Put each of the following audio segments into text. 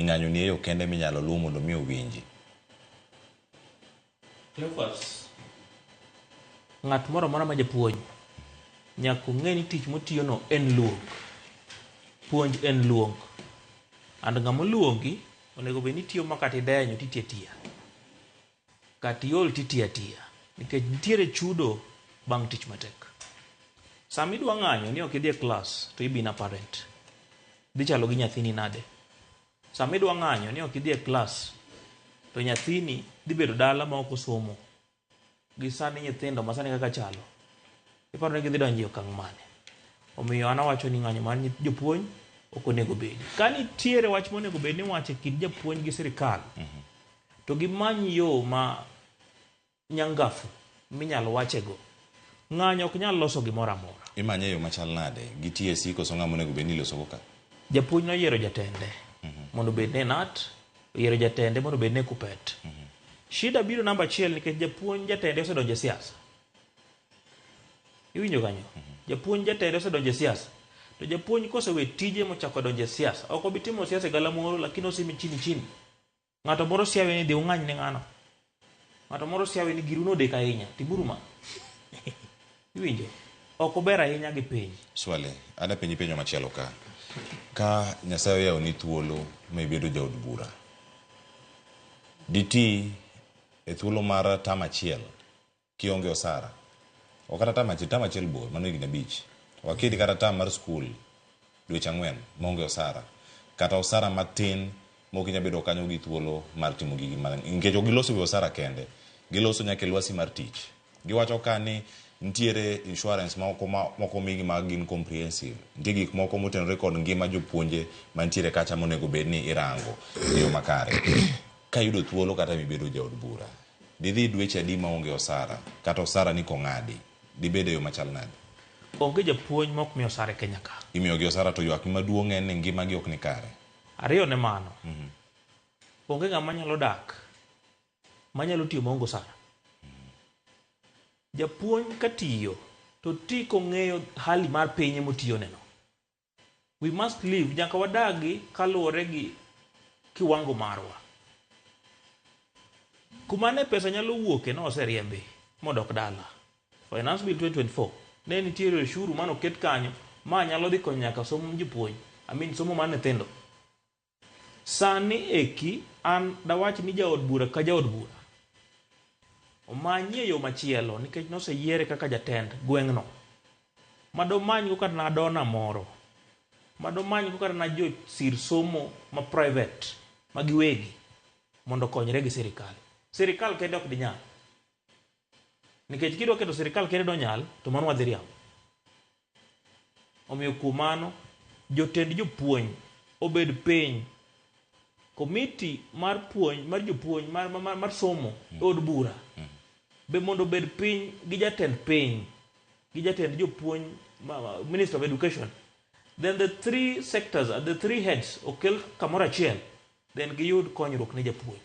Ng'anyo ni e yo kende minyalo luw mondo mi owinji. Cleophas, ng'at moro amora ma japuonj nyaka ong'e ni tich motiyono en luong. Puonj en luong. And ng'ama oluongi onego bed ni tiyo makata idenyo titi atiya. Kat iol to iti atiya nikech nitiere chudo bang' tich matek. Sama idwa ng'anyo ni ok idhi e klas to ibi na parent. Dhi chalo gi nyathini nade? Sama idwa ng'anyo ni ok idhi e klas to nyathini dhi bedo dala ma ok osomo. Gi sani nyithindo ma sani kaka chalo, iparo ni gidhi donjo e okang' mane? Omiyo an awacho ni ng'anyo mar jopuonj ok onego bedi. Ka nitiere wach monego bed ni iwacho e kind japuonj gi sirkal, To gimany yo ma nyangafu minyal wachego. Ng'anyo ok nyal loso gimoro amora. Imanye e yo machal nade? Gi TSC koso ng'a monego bed ni ilosogo ka? Japuonj noyiero jatende mondo obed ne nut, oyiero jatende mondo obed ne kupet. Shida biro namba achiel nikech japuonj jatende osedonjo e siasa. Iwinjo kanyo? Japuonj jatende osedonjo e siasa. To japuonj kosewe tije mochako donjo e siasa, ok obi timo siasa e galamoro lakini osimi chini chini. Ng'ato moro siawe ni dhi ung'any ne ng'ano. Ng'ato moro siawe ni giru nodek ahinya. Timuru ma. Iwinjo? Ok uber ahinya gi piny. Swali, ada penji penjo machielo ka. Ka Nyasaye oyawo ni thuolo ma ibedo jaod bura, diti e thuolo mar tam achiel Kionge osara. Ok kata tam achiel, tam achiel bor, mano higni abich. Ok aketi kata tam mar skul dweche ang'wen maonge osara. Kata osara matin maok inyal bedo kanyo gi thuolo mar timo gigi ma nikech ok giloso e wi osara kende, giloso nyaka e lwasi mar tich. Giwacho ka ni nitiere insurance moko ma ok omigi ma gin comprehensive. Nitie gik moko motenore kod ngima jopuonje mantiere kacha monego bed ni irango e yo makare ka iyudo thuolo kata mibedo jaod bura. Didhi dweche adi ma onge osara, kata osara ni kong'adi, dibed e yo machal nade? Onge japuonj ma ok mi osara e Kenya ka. Imiyogi osara to ywakgi maduong' en ni ngimagi ok ni kare. Ariyo ne mano, onge ng'ama nyalo dak manyalo tiyo maonge osara. Japuonj katiyo to oti kong'eyo hali mar piny emotiyoneno. We must live, nyaka wadagi kaluwore gi kiwango marwa. Kuma ne pesa nyalo wuoke ne oseriembi modok dala. Finance Bill 2024 ne nitiere oshuru mano ket kanyo ma nyalo dhi konyo nyaka somo jopuonj, I mean somo mar nyithindo. Sani eki an dawach ni jaod bura ka jaod bura omanyie yo machielo nikech noseyiere kaka jatend gweng'no ma domanygo kata na dona moro ma domanygo kata na josir somo ma private ma giwegi mondo okonyre gi sirikal. Sirikal kende ok dinyal nikech kidwa keto sirikal kende donyal to mano wadhi riambo. Omiyo kuom mano, jotend jopuonj obed piny. Komiti mar puonj mar jopuonj mar, mar, mar somo e od bura be mondo obed piny gi jatend piny gi jatend jopuonj ma- ma- Minister of Education. Then the three sectors, uh, the three heads okel kamoro achiel, then giyud konyruok ne japuonj.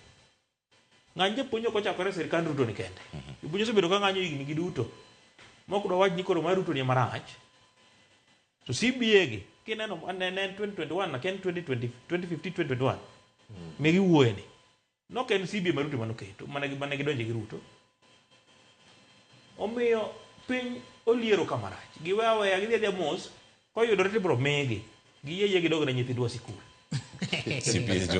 Ng'any japuonj ok ochakore e sirkand Ruto ni kende. Japuonj osebedo ka ng'anyo higni gi duto. Mok dwa wach ni koro mar Ruto ni marach. To CBA gi kineno ne en 2021 na ken 2020 2015 2021. Ne giwuoye ni. Nok en CBA ma Ruto mano keto mana gi mana gidonje gi Ruto. Omiyo piny oliero ka marach. Giwe aweya gidhi adhiya mos koyudore tibro migi. Giyie yie gidog ne nyithindwa sikul. CBA George.